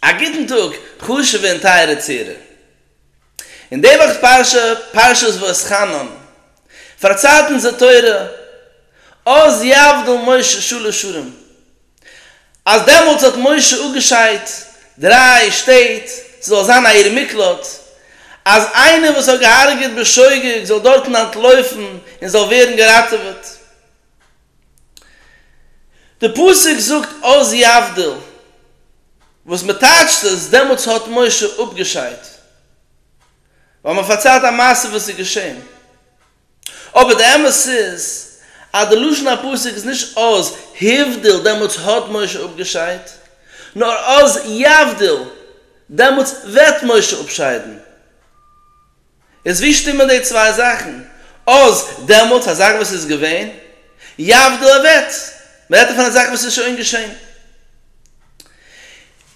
א גוטן טאג חשוב'ע און טייערע צוהערער. אין די וואכ'ס פרשה, פרשת ואתחנן, פארציילט אונז די תורה, אז יבדל משה שלש שערים, אז דעמאלטס האט משה אפגעשיידט דריי שטעט ס'זאל זיין א עיר מקלט, אז איינער וואס האט געהארגעט בשוגג זאל דארטן אנטלויפן און זאל ווערן געראטעוועט. די פסוק זאגט אז יבדל, וואס מען טייטשט עס דעמאלטס האט משה אפגעשיידט, ווייל מען פארציילט א מעשה וואס איז געשען, אבער די אמת איז אז די לשון הפסוק איז נישט אז היבדל דעמאלטס האט משה אפגעשיידט, נאר אז יבדל דעמאלטס וועט משה אפשיידן. איז ווי שטימען די צוויי זאכן אויס דעמאלטס, א זאך וואס איז געווען, יבדו אוועט, מען רעדט דא פון א זאך וואס איז שוין געשען,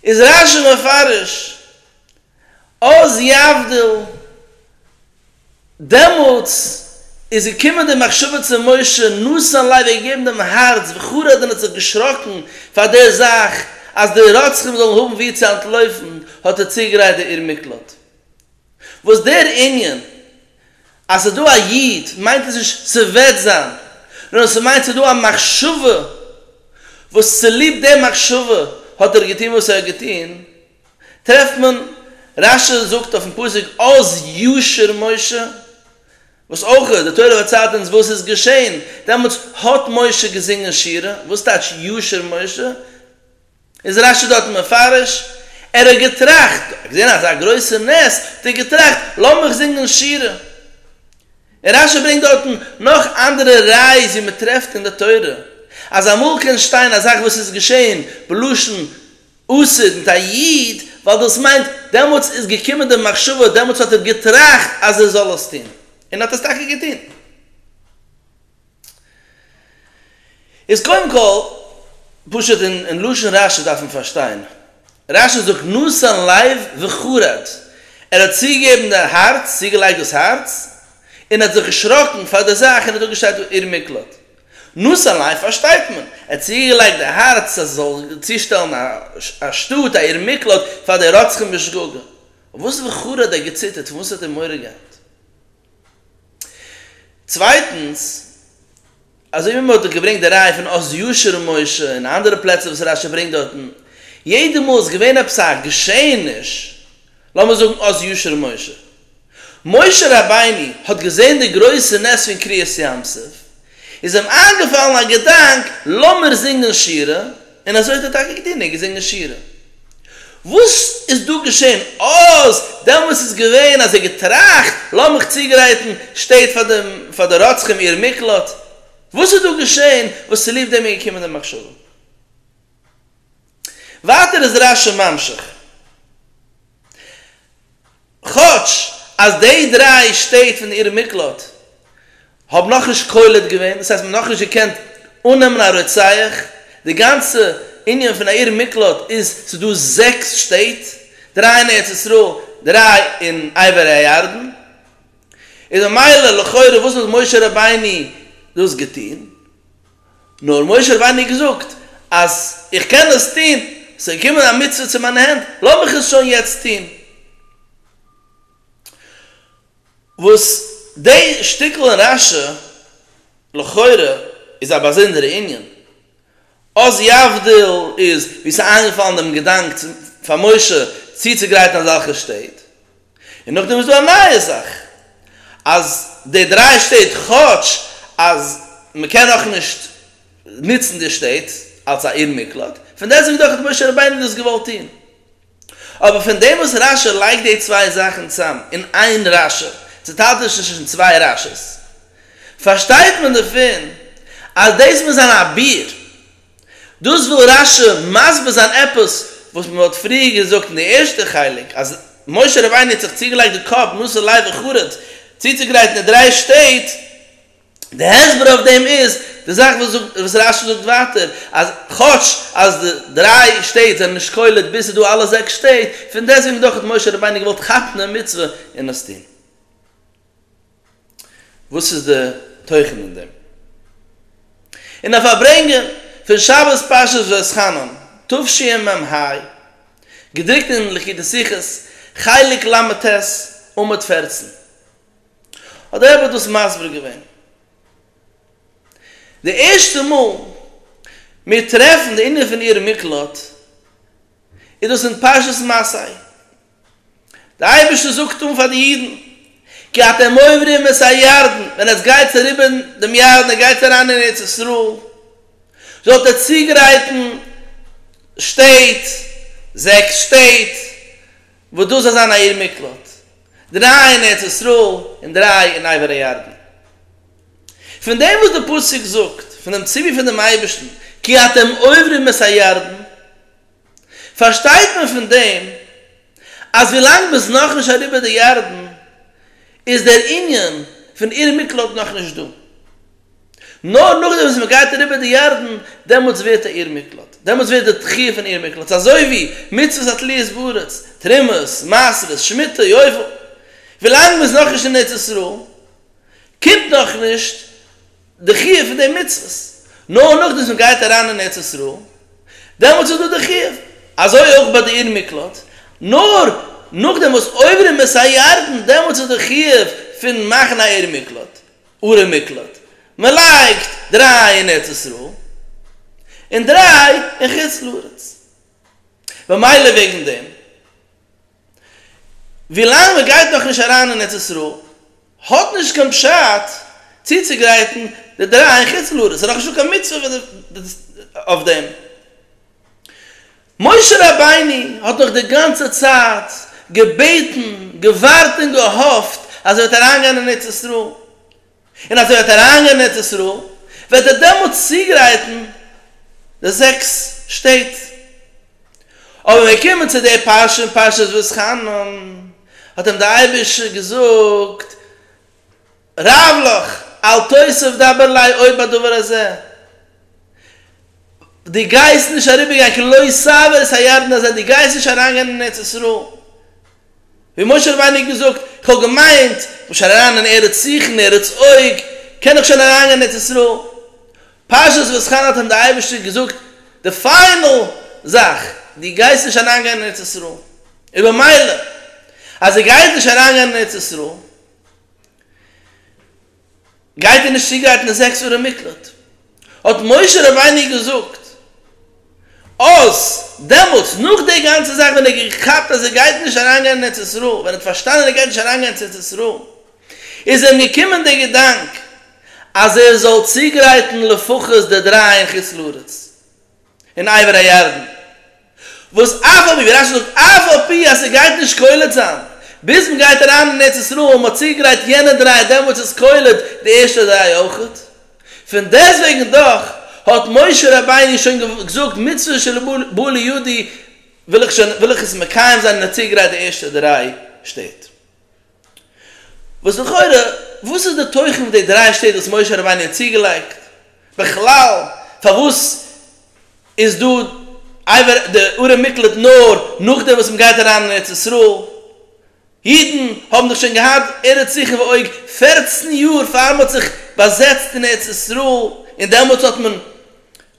איז רש י מפרש אויס יבדו, דעמאלטס איז געקומען די מחשבה צו משה, נשא לב, ער האט געגעבן דעם הארץ וכו', דען האט זיך געשראקן פאר די זאך אז די רוצחים זאלן האבן ווי צו אנטלויפן, האט ער צוגעגרייט די עיר מקלט. וואס דער ענין אז ס'איז דא א יוד מיינט עס נישט ס'וועט זיין, נאר ס'מיינט ס'איז דא א מחשבה וואס צוליב די מחשבה האט ער געטון וואס ער האט געטון, טרעפט מען רשי זאגט אויפן פסוק עוז ישור משה, וואס אויך די תורה פארציילט אונז וואס איז געשען, דעמאלטס האט משה געזינגען שירה, וואס טייטש ישור משה? איז רש י דארט מפרש, ער האט געטראכט, ער האט געזען אזא גרויסע נס, האט ער געטראכט, לאמיך זינגען שירה. און רש י ברענגט דארטן נאך אנדערע ראיות ווי מען טרעפט אין די תורה, אז אמאל קען שטיין א זאך וואס איז געשען בלשון עתיד מיט א איד, ווייל דאס מיינט, דעמאלטס איז געקומען די מחשבה, דעמאלטס האט ער געטראכט אז ער זאל עס טון, און האט עס טאקע געטון. איז קודם כל, פשוט אין לשון רשי דארף מען פארשטיין, רשי זאגט נתן לב וחרד, ער האט צוגעגעבן די הארץ, צוגעלייגט דאס הארץ, און האט זיך געשראקן פאר די זאך און האט אפגעשטייט עיר מקלט. נתן לב פארשטייט מען, ער האט צוגעלייגט די הארץ אז עס זאל צושטעלן א שטאט, א עיר מקלט, פאר די רוצחים בשגגה. אויף וואס וחרד האט געציטערט, פון וואס האט ער מורא געהאט? צווייטנס, אזוי ווי מען האט דאך געברענגט די ראיה פון עוז ישיר און משה און אנדערע פלעצער וואס רשי ברענגט דארטן, יעדע מאל איז געווען עפעס א געשעעניש, לאמיר זאגן עוז ישיר און משה. משה רבינו האט געזען די גרויסע נס פון קריעת ים סוף, איז אים איינגעפאלן א געדאנק, לאמיר זינגען שירה, און אזוי האט ער טאקע געטון, ער האט געזינגען שירה. וואס איז דא געשען? אז דעמאלס איז געווען אז ער האט געטראכט, לאמיך צוגרייטן שטעט פאר די פאר די רוצחים איר מקלט. וואס איז דא געשען וואס צוליב דעם איז געקומען די מחשבה? ווייטער איז רשי ממשיך. כאטש אז די דריי שטעט פון עיר מקלט האבן נאכנישט קולט געווען, דאס הייסט מען האט נאכנישט געקענט אננעמען א רוצח, די גאנצע ענין פון א עיר מקלט איז ס'איז דא זעקס שטעט, דריי אין ארץ ישראל, דריי אין עבר הירדן, איז ממילא לכאורה וואס האט משה רבינו דאס געטון? נאר משה רבינו האט געזאגט אז איך קען עס טון, עס איז געקומען א מצוה צו מיינע הענט, לאז מיך עס שוין יעצט טון. וואס די שטיקל אין רש י לכאורה איז א באזונדערע ענין, אז יבדיל איז ווי עס איז איינגעפאלן דעם געדאנק פאר משה צוצוגרייטן אזעלכע שטעט, און נאכדעם איז דא א נייע זאך אז די דריי שטעט כאטש אז מען קען נאך נישט נוצן די שטעט אלס א עיר מקלט פון דעסוועגן דאך האט משה רבינו דאס געוואלט טון אבער פון דעם וואס רש י לייגט די צוויי זאכן צאם אין איין רש י צוטיילט נישט צווישן צוויי רש י'ס פארשטייט מען דערפון אז דאס מוז זיין א ביאור דאס וויל רש י מסביר זיין עפעס וואס מען האט פריער געזאגט אין די ערשטע חלק אז משה רבינו האט זיך צוגעלייגט די קאפ נשא לב וחרט צוצוגרייטן די דריי שטעט, די הסבר אויף דעם איז די זאך וואס רש י זאגט ווייטער אז כאטש אז די דריי שטעט זענען נישט קולט ביז ס'איז דא אלע זעקס שטעט, פון דעסטוועגן דאך האט משה רבינו געוואלט חתן און מצוה און עס טון. וואס איז די תוכן אין דעם? אין א פארברענגען פון שבת פרשת ואסחנן תשמ ה, געדרוקט אין ליקוטי שיחות חלק ל ט עמוד פֿערצן, האט דער רבי דאס מסביר געווען. די ערשטע מאל מיר טרעפן די ענין פון עיר מקלט איז דאס אין פרשת מסעי, דער אייבערשטער זאגט אן פאר די אידן, כי אתם עוברים את הירדן, ווען עטס גייטס אריבער דעם ירדן, איר גייטס אריין אין ארץ ישראל, זאלט איר צוגרייטן שטעט, זעקס שטעט, וואס דאס זאל זיין א עיר מקלט, דריי אין ארץ ישראל, און דריי אין עבר הירדן. פון דעם וואס דער פסוק זאגט, פון דעם ציווי פון דעם אייבערשטן, כי אתם עוברים את הירדן, פארשטייט מען פון דעם אז ווילאנג מ'איז נאכנישט אריבער די ירדן איז דער ענין פון עיר מקלט נאכנישט דא, נאר נאכדעם וואס מ'גייט אריבער די ירדן דעמאלטס ווערט א עיר מקלט, דעמאלטס ווערט די תחי' פון עיר מקלט אזוי ווי מצוות התליות בארץ, תרומות, מעשרות, שמיטה, יובל, ווילאנג מ'איז נאכנישט אין ארץ ישראל קומט נאכנישט די חיוב פון די מצוות, נאר נאכדעם וואס מען גייט אריין אין ארץ ישראל, דעמאלטס איז דא די חיוב, אזוי אויך ביי די עיר מקלט, נאר נאכדעם וואס עוברים את הירדן, דעמאלטס איז די חיוב פון מאכן א עיר מקלט, ערי מקלט, מען לייגט דריי אין ארץ ישראל, און דריי אין חוץ לארץ, במילא וועגן דעם. ווילאנג מען גייט נאך נישט אריין אין ארץ ישראל האט נישט קיין פשט צוצוגרייטן די דריי אין חוץ לארץ, ס'איז נאכנישטא קיין מצוה אויף דעם. משה רבינו האט דאך די גאנצע צייט געבעטן, געווארט און געהאפט אז ער וועט אריינגיין אין ארץ ישראל, און אז ער וועט אריינגיין אין ארץ ישראל וועט ער דעמאלט צוגרייטן די זעקס שטעט. אבער ווען מיר קומען צו די פרשה אין פרשת ואתחנן, האט אים דער אייבערשטער געזאגט, רב לך, אל תוסיף דבר לי עוד בדבר הזה, דו גייסט נישט אריבערגיין כלא סבר את הירדן הזה, דו גייסט נישט אריינגיין אין ארץ ישראל. ווי משה רבינו האט געזאגט, איך האב געמיינט, כ'בין שוין אריין אין ארץ זיכן, ארץ אוג, קען איך שוין אריינגיין אין ארץ ישראל. פרשת ואסחנא האט אים די אייבערשטער געזאגט די פיינעל זאך, דו גייסט נישט אריינגיין אין ארץ ישראל. איז במילא אז ער גייט נישט אריינגיין אין ארץ ישראל, גייט איר נישט צוגרייטן די זעקס ערי מקלט? האט משה רבינו געזאגט אז דעמאלטס נאך די גאנצע זאך ווען ער האט געכאפט אז ער גייט נישט אריינגיין אין ארץ ישראל, ווען ער האט פארשטאנען ער גייט נישט אריינגיין צו ארץ ישראל, איז אים געקומען דער געדאנק אז ער זאל צוגרייטן לפחות די דריי אין חוץ לארץ, אין עבר הירדן, וואס אף על פי ווי רשי זאגט אף על פי אז ס'גייט נישט קולט זיין ביז מ'גייט אריין אין ארץ ישראל, מ'האט צוגרייט יענע דריי דעמאלטס איז קולט די ערשטע דריי אויכעט, פון דעסטוועגן דאך האט משה רבינו שוין געזאגט מצוה של בא לידי וויל איך שוין וויל איך עס מקיים זיין און האט צוגרייט די ערשטע דריי שטעט. וואס לכאורה וואס איז די תוכן פון די דריי שטעט וואס משה רבינו האט צוגעלייגט? בכלל פארוואס איז דא עבר די ארם מקלט נאר נאכדעם וואס מען גייט אריין אין ארץ ישראל? אידן האבן דאך שוין געהאט ארץ זיכען ועוג פערצן יאר פאר מען האט זיך באזעצט אין ארץ ישראל און דעמאלטס האט מען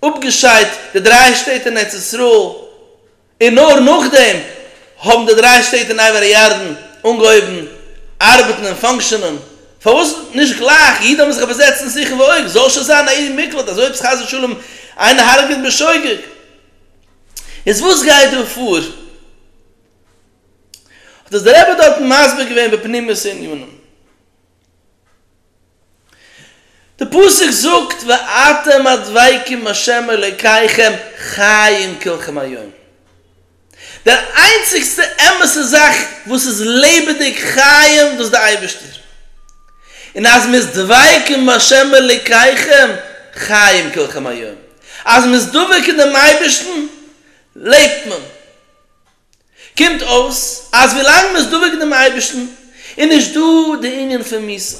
אפגעשיידט די דריי שטעט אין ארץ ישראל, און נאר נאכדעם האבן די דריי שטעט אין עבר הירדן אנגעהויבן ארבעטן און פאנקשענען, פארוואס נישט גלייך? אידן האבן זיך באזעצט אין שיכון ועוג, זאל שוין זיין א עיר מקלט, אזוי עפעס חס ושלום איינער הרג'עט בשוגג. איז וואס גייט דא פאר? האט עס דער רבי דארטן מסביר געווען בפנימיות הענינים. די פסוק זאגט ואתם הדבקים השם אלקיכם חיים כלכם היום, דער איינציגסטע אמת'ע זאך וואס איז לעבעדיג חיים דאס די אייבערשטער, און אז מ'איז דבקים בהשם אלקיכם חיים כלכם היום, אז מ'איז דבוק אין דעם אייבערשטן לעבט מען. קומט אויס אז ווילאנג מ'איז דבוק דעם אייבערשטן איז נישט דא די ענין פון מוסר,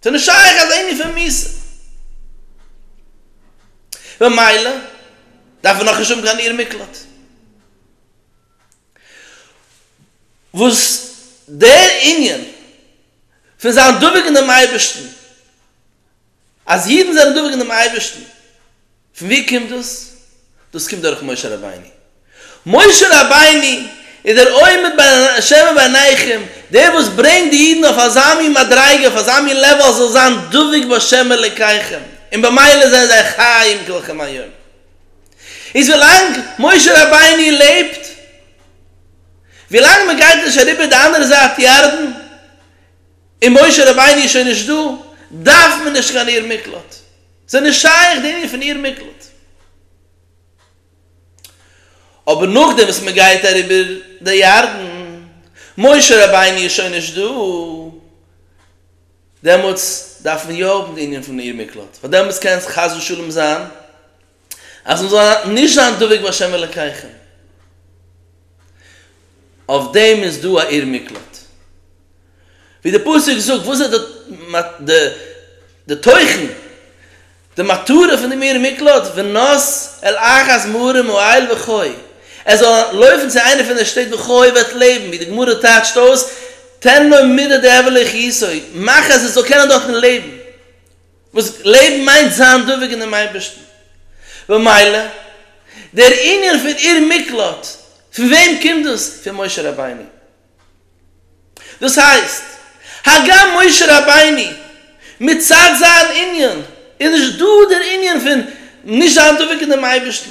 ס'איז נישט שייך אזא ענין פון מוסר, ממילא דארף מען נאכנישט האבן קיין עיר מקלט. וואס דער ענין פון זיין דבוק אין דעם אייבערשטן, אז אידן זענען דבוק אין דעם אייבערשטן, פון ווי קומט דאס? דאס קומט דורך משה רבינו. משה רבינו איז דער עומד בין השמים ובינעכם, דער וואס ברענגט די אידן אויף אזא מין מדריגה, אויף אזא מין לעוועל אז זאל זיין דבוק בהשם אלקיכם, און במילא זענען זיי חיים כלכם היום. איז ווילאנג משה רבינו לעבט, ווילאנג מען גייט נישט אריבער די אנדערע זייט ירדן, און משה רבינו איז שוין נישט דא, דארף מען נישט קיין עיר מקלט. זיי נישט שייך די ענין פון איר מקלט. אבער נאכדעם וואס מען גייט אריבער די ירדן, משה רבינו איז שוין נישט דא, דעמאלטס דארף מען יא האבן די ענין פון עיר מקלט, ווייל דעמאלטס קען עס חס ושלום זיין אז מען זאל נישט זיין דבוק בה' אלקיכם. אויף דעם איז דא א עיר מקלט. ווי די פסוק זאגט וואס איז די די תוכן די מטרה פון דעם עיר מקלט ונס אל אחת מערים אוהל וכו' ער זאל לויפן צו איינע פון די שטעט וכו' ער וועט לעבן ווי די גמרא טייטשט אויס תן לו מדה דעבלא כיסוי מאך אז ער זאל קענען דארטן לעבן וואס לעבן מיינט זיין דבוק אינעם אייבערשטן, במילא דער ענין פון עיר מקלט, פון וועם קומט דאס? פון משה רבינו. דאס הייסט, הגם משה רבינו מצד זיין ענין איז נישט דא דער ענין פון נישט זיין דבוק אינעם אייבערשטן,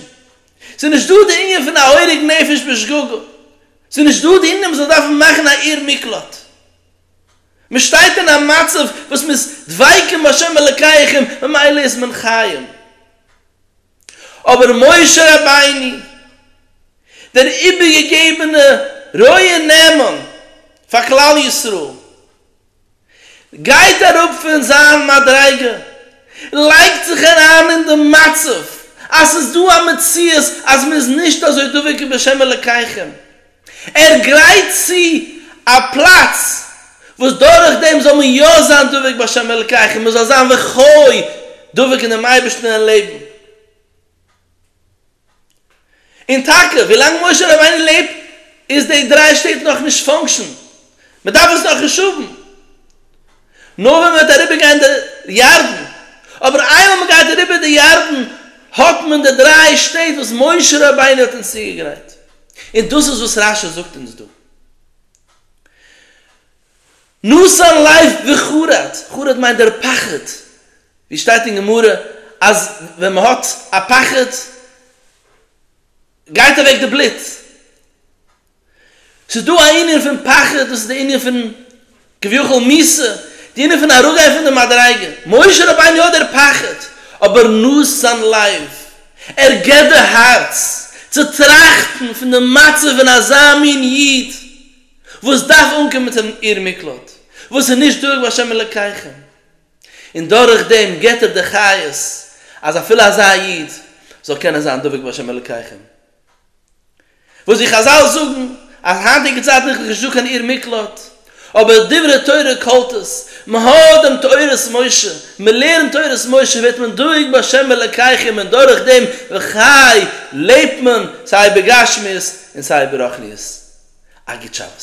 ס'איז נישט דא דער ענין פון א הורג נפש בשגגה, ס'איז נישט דא דער ענין אז מ'זאל דארפן מאכן א עיר מקלט, מען שטייט אין א מצב וואס מען איז דבקים בהשם אלקיכם ממילא איז מען חיים, אבער משה רבינו דער איבערגעגעבענע רועה נאמן פאר כלל ישראל גייט אראפ פון זיין מדריגה, לייגט זיך אריין אין די מצב אז ס'איז דא א מציאות אז מען איז נישט אזוי דבוק בהשם אלקיכם, ער גרייט צו א פלאץ וואס דורך דעם זאל מען יא זיין דבוק בהשם אלקיך און מען זאל זיין וכו' דבוק אין דעם אייבערשטן און לעבן און טאקע ווילאנג משה רבינו לעבט איז די דריי שטעט נאכנישט פאנקשען, מען דארף עס נאך רעשאוון נאר ווען מען וועט אריבער גיין די ירדן, אבער איינמאל מען גייט אריבער די ירדן האט מען די דריי שטעט וואס משה רבינו האט אונז צוגעגרייט, און דאס איז וואס רשי זאגט אונז דא, נשא לב וחרד, חרד מיינט דער פחד, ווי שטייט אין גמרא אז ווען מען האט א פחד גייט אוועק די בלוט. ס'איז דא א ענין פון פחד, דאס איז די ענין פון כביכול מיסה, די ענין פון אראפגיין פון די מדריגה, משה רבינו האט דער פחד, אבער נאסט זיין לב, ער געבט די הארץ צו טראכטן פון די מצב פון אזא מין איד וואס דארף אנקומען צו דעם עיר מקלט, וואס איז נישט דורך בהשם אלקיכם, און דורך דעם געבט ער די חיות אז אפילו אזא איד זאל קענען זיין דבוק בהשם אלקיכם. וואס די חזל זאגן אז היינטיגע צייטן איז נישט דא קיין עיר מקלט, אבער דברי תורה קאלט עס, מען האט דעם תורת משה, מען לערנט תורת משה ווערט מען דואג בהשם אלקיכם און דורך דעם וכו' לעבט מען סיי בגשמיות און סיי ברוחניות. א גוט שבת.